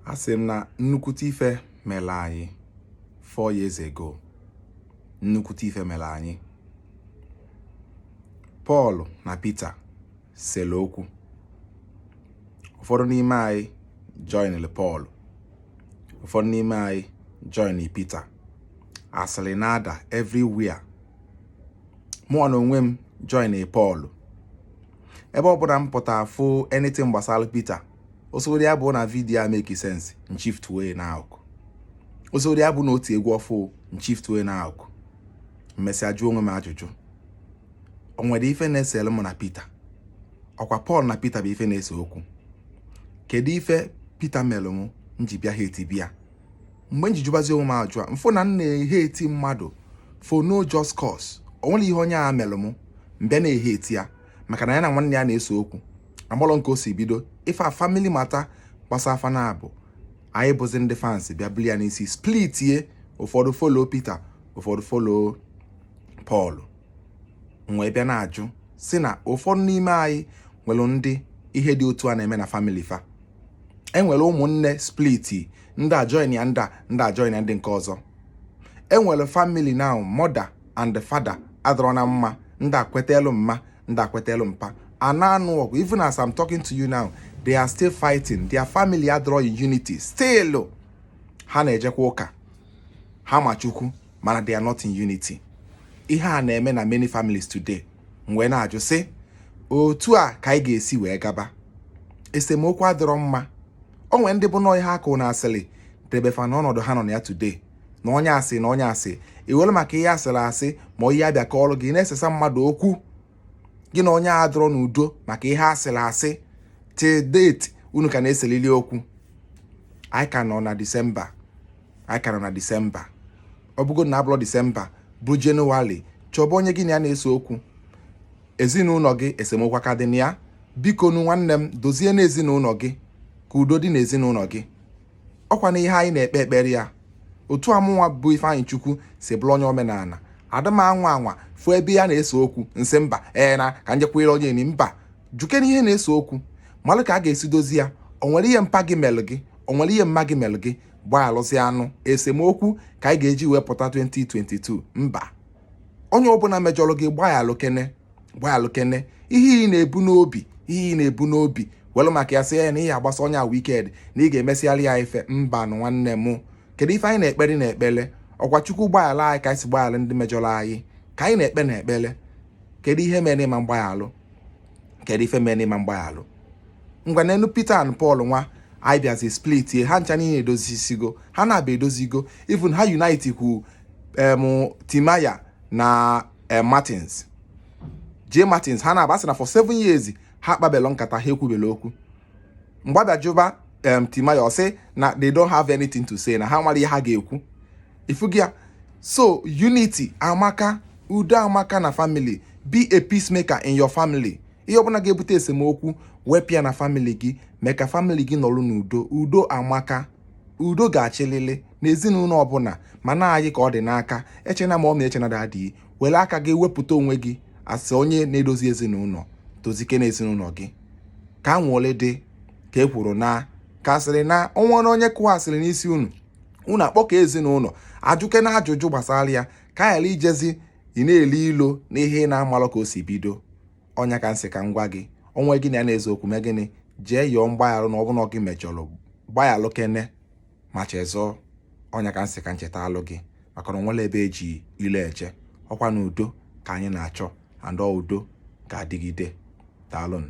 asị m na nnukwute ife mere anyị four years ago nnukwute ife mere anyị Pọl na Pita sere okwu ụfọdụ n'ime anyị joinere Pọl ụfọdụ n'ime anyị join Pita asịrị na-ada everywhere mụwa na onwe m join Pọl ebe ọ bụla m pụta fụ anything gbasara Pita ọ sọrị ya bụ na vidiyo a make sense m shiftue na akụkụ ọ sọrị ya bụ na o tie egwu ọfụụ m shiftue na akụkụ m mesịa jụọ onwe m ajụjụ o nwere ife na-esere mụ na Pita ọkwa Pọl na Pita bụ ife na-ese okwu kedu ife Pita mere m nji bịa hateba ya mgbe nji jụbazi onwe m ajụjụ a m fụ na m na-ehate mmadụ for no just cause o nwere ihe onye a mere m m bịa na-ehate ya maka na ya na nwanne ya na-ese okwu amalọ m ka o si bido ife a family matter gbasa fa na abụọ anyị bụzi ndị fans bịa buli ya n'isi splitie ụfọdụ follow Peter ụfọdụ follow Paul m wee bịa na-ajụ sị na ụfọdụ n'ime anyị nwere ndị ihe dị otu a na-eme na family fa e nwere ụmụnne split ndị a joinie ndị ndị a joinie ndị nke ọzọ e nwere family na mother and father adịrọ na mma ndị a kwetalụ mma ndị a kwetalụ mpa a na-anụ ọgụ even as I'm talking to you now they are still fighting their family adịrọ in unity still ha na-ejekwa ụka ha ma Chukwu mana they are not in unity ihe a na-eme na many families today m wee na-ajụ sị otu a ka anyị ga-esi wee gaba esemokwu adịrọ mma o nwere ndị bụ nọọ ihe a kọ na asịrị debe fa n'ọnọdụ ha nọ na ya today na onye a sị na onye a sị i were maka ihe a sịrị asị ma onye a bịa kọọrọ gị na-esesa mmadụ okwu gị na onye a adịrọ n'udo maka ihe a sịrị asị till date unu ka na-eselili okwu anyị ka nọ na disemba anyị ka nọ na disemba ọ bụgo na ọ bụlọ disemba bụ jenụwarị chọba onye gị na ya na-ese okwu ezinụlọ gị esemokwu a ka dị na ya bikonu nwanne m dozie n'ezinụlọ gị ka udo dị n'ezinụlọ gị ọkwanụ ihe anyị na-ekpe ekpere ya otu a mụnwa bụ Ifeanyịchukwu si bụrụ onye omenala ada m anwa anwa fụ ebe a na-ese okwu m sị mba ee na ka njekwere onye ni mba jụkene ihe na-ese okwu malụ ka a ga-esi dozi ya o nwere ihe mpa gị melụ gị o nwere ihe mma gị melụ gị gbayalụzianụ esemokwu ka anyị ga-eji wee pụta 2022 mba onye ọbụla mejọrọ gị gbayalụkene gbalụkene ihe ị na-ebu n'obi ihe ị na-ebu n'obi welụ maka ya sị ya na ihe agbasa onye a wicked na ị ga-emesịgharị ya ife mba nụ nwanne m kedu ife anyị na-ekpere na ekpere ọkwa chukwu gbaghara anyị ka anyị si gbaghara ndị mejọrọ anyị ka anyị na-ekpe na ekpere kedu ihe mere ị ma-agbaghalụ kedu ife mere ị ma-agbaghalụ ngwa nelụ Peter and Paul nwaanyị bịazi splitie ha ncha niile edozisigo ha naabọ edozigo even ha unite kwu em Timaya na eh, Martins J Martins ha naabọ sị na for seven years ha akpabelọ nkata ha ekwubelo okwu mgbe a bịa jụba em Timaya ọ sị na they don't have anything to say na ha enwerọ ihe ha ga-ekwu ị fụgo ya so unity amaka udo amaka na family be a peacemaker in your family ihe ọbụla ga-ebute esemokwu wepụ ya na family gị mee ka family gị nọrọ n'udo udo amaka udo ga-achịlịlị na ezinụlọ ọbụla mana gị ka ọ dị n'aka echena mummy echena daddy were aka gị wepụta onwe gị as onye na-edozi ezinụlọ dozikene ezinụlọ gị ka a nwụọle dị ka e kwuru na ka asịrị na ọnwa na onye kụwa asịrị n'isi unu unu akpọkọọ ezinụlọ ajụkene ajụjụ gbasara ya ka ghara ijezi ị na-elo ilo n'ihe ị na-amarọ ka o si bido ọ nya ka m sị ka m gwa gị onye gị na ya na-ese okwu mee gịnị jee yọọ mgbaghara na ọ bụlụ gị mejọrọ gbaghalụkene ma chezọọ ọ nya ka m sị ka m chetalụ gị maka na o nwerọ ebe e ji ilo eje ọkwa na udo ka anyị na-achọ and udo ga-adịgide daalụnụ